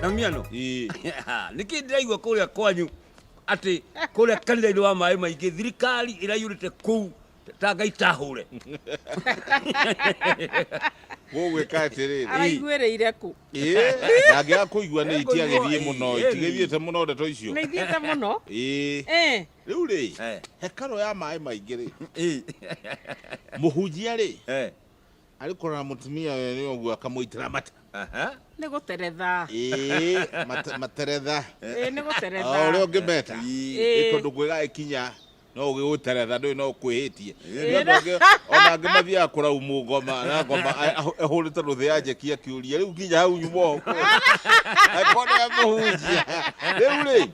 na miano niki ndiraigua kuria kwanyu ati kuria kanitha-inĩ wa maĩ maingĩ thirikari ĩraiyũrĩte kũu ta ngai tahũre gũgwĩka atĩrĩrĩ araiguĩrĩire kũ ndangĩga kũigua nĩ iti agĩthiĩ mũno Ĩĩ, ĩĩ. itigĩthiĩte mũno ndeto icio nĩ ithiĩte mũno Ĩĩ. Eh, rĩu rĩ Eh. hekarũ ya maĩ maingĩ rĩ Ĩĩ. mũhunjia rĩ Eh. Arĩ kũrora mũtumia ũyũ nĩ ũguo akamũitĩra mata. Aha. Nĩ gũteretha. Ĩĩ, mate- materetha. Ĩĩ, nĩ gũteretha. O ũrĩa ũngĩmeta. Ĩĩ. Ĩĩ, tondũ kwĩgagĩkinya no ũgĩgũteretha ndũĩ no ũkwĩhĩtie. Ĩĩ. Nĩ andũ angĩ ona angĩ mathiaga kũraumwo ngoma na ngoma a- ahũ- ahũrĩte rũthĩ ya njeki akĩũria rĩu kinya hau nyuma ũũ kwĩ?" Angĩkorwo nĩ amũhunjia. Rĩu rĩ,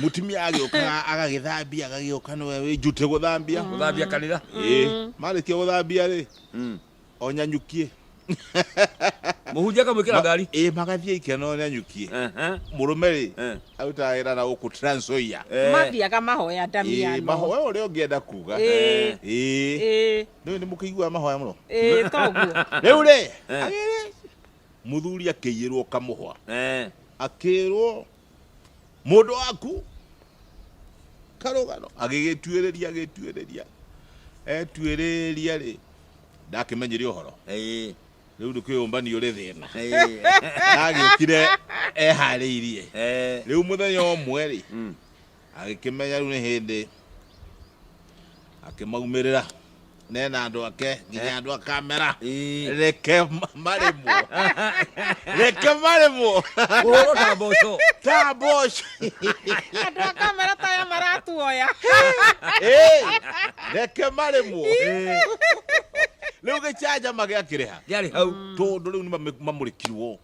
mutumia agiokaga agagithambia agagioka niwe wi njute guthambia Guthambia kanitha. ii marikia guthambia ri Mm. onyanyukie Mũhunjia akamwĩkĩra ngari. ii magathie ikeno onyanyukie Aha. murume ri Eh. arutaga wira na guku transoia Eh. mathiaga mahoya ii ndamiano mahoya uria ungienda kuga Ĩĩ. ii Ĩĩ, nä nä må kä iguaga mahoya må no ĩĩ, toguo rä u rä Eh. muthuri akä iyä rwo kamuhwa Eh. akä rwo mũndũ waku karũgano agĩgĩtuĩrĩria agĩtuĩrĩria etuĩrĩria rĩ ndakĩmenyire ũhoro Ĩĩ, rĩu nĩ kwĩyũmbania ũrĩ thĩna ĩĩ, agĩũkire eharĩirie ĩĩ, rĩu mũthenya ũmwe rĩ mm, Agĩkĩmenya rĩu nĩ hĩndĩ, akĩmaumĩrĩra ne na andũ ake nginya eh. andũ akamera eh. reke marĩmwo reke marĩmwo kũhũrwo ta mboco ta mboco andũ akamera ta ya maratuoya eh. reke marĩmwo rä u gä canjama gä akĩrä ha tondå rä u nä mamå rä kirwo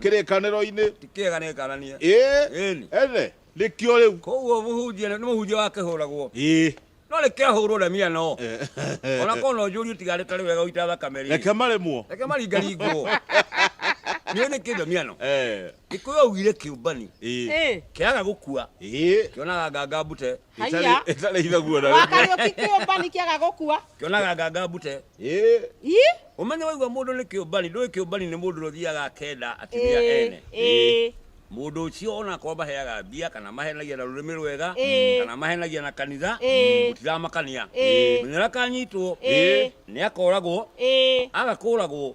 kĩrĩkanĩro-inĩ. Ti kĩega nĩngananie. Ĩĩ, Ĩni. ene, nĩkĩo rĩu. Koguo mũhunjia nĩ nĩ mũhunjia wa kĩhũragwo. Ĩĩ. No nĩkĩahũrwo na mia no. Ona korwo no njũrie tiga arĩ tarĩ wega gũita thakame rĩ. Reke maremwo. Reke maringaringwo. Nĩũĩ nĩ kĩndũ mia no. Eh. Gĩkũyũ augire kĩũmbani. Ĩĩ. Ĩĩ. Kĩaga gũkua. Ĩĩ. Kĩonaga nganga mbute. Haiya. Ĩtarĩ ithaguo na rĩmwe. Wakariũki kĩũmbani kĩaga gũkua. Kĩonaga nganga mbute. Ĩ. Ii. Ũmenye waigua mũndũ nĩ kĩũmbani, ndũĩ kĩũmbani nĩ mũndũ ũrĩa ũthiaga akenda atumia Ĩĩ, ene. ĩĩ. Mũndũ ũcio ona akorwo maheaga mbia kana mahenagia na rũrĩmĩ rwega Ĩĩ. kana mahenagia na kanitha Ĩĩ. gũtiramakania. Ĩĩ. Menya ũrĩa akanyitwo Ĩĩ. nĩ akoragwo Ĩĩ. aga kũragwo